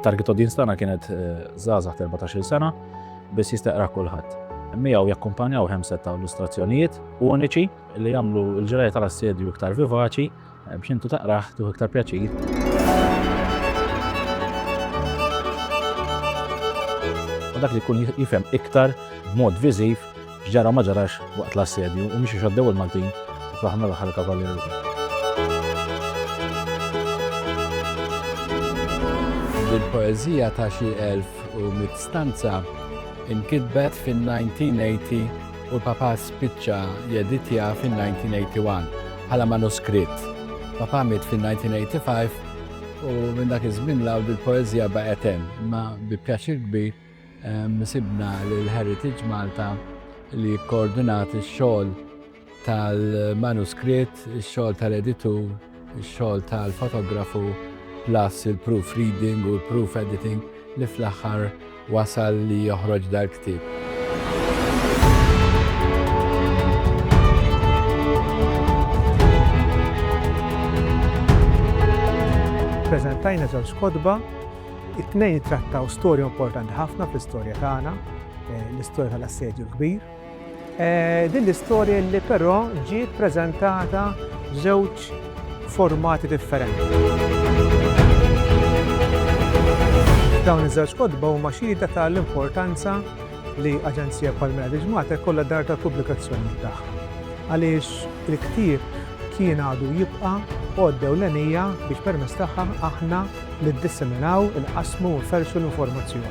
Target audience tagħna kienet eh, żgħażagħ 14-il sena biss jistaqra kulħadd. Miegħu jakkumpanjaw hemm set ta' illustrazzjonijiet uniċi li jagħmlu l-ġrajja tal-assedju iktar vivaċi eh, biex intu taqraħ tuħ iktar pjaċir. dak li jkun jifhem iktar b'mod viżiv X'ġara u ma ġarax waqt l-assedju u mhux għax għaddew il-Maltin u fl-aħħar mill-aħħar il-Kavallieri wkoll. Il-poeżija ta' xi elf u mitt stanza nkitbet fin-1980 u l-Papa spiċċa jeditja fin-1981 bħala manuskritt. Papa miet fin-1985 u minn dak iż-żmien 'l hawn dil-poeżija baqgħet hemm, imma bi pjaċir kbir Sibna lil Heritage Malta li jikkoordinat ix-xogħol tal-manuskritt, ix-xogħol tal-editur, ix-xogħol tal-fotografu, plus il-proof reading u l-proof editing li fl-aħħar wasal li joħroġ dal-ktieb. Ippreżentajna żewġ kotba It-tnejn jittrattaw storja importanti ħafna fl-istorja tagħna, eh, l-istorja tal-Assedju l-Kbir. Eh, din l-istorja li però ġiet preżentata żewġ formati differenti. Dawn iż-żewġ kodba huma xhieda tal-importanza li aġenzija bħal Mela Diġmata kollha dar tal-pubblikazzjoni tagħha. Għaliex il-ktieb kien għadu jibqa' għoddew l-enija biex permess tagħha aħna li ddisseminaw, inqassmu u nferrxu l-informazzjoni.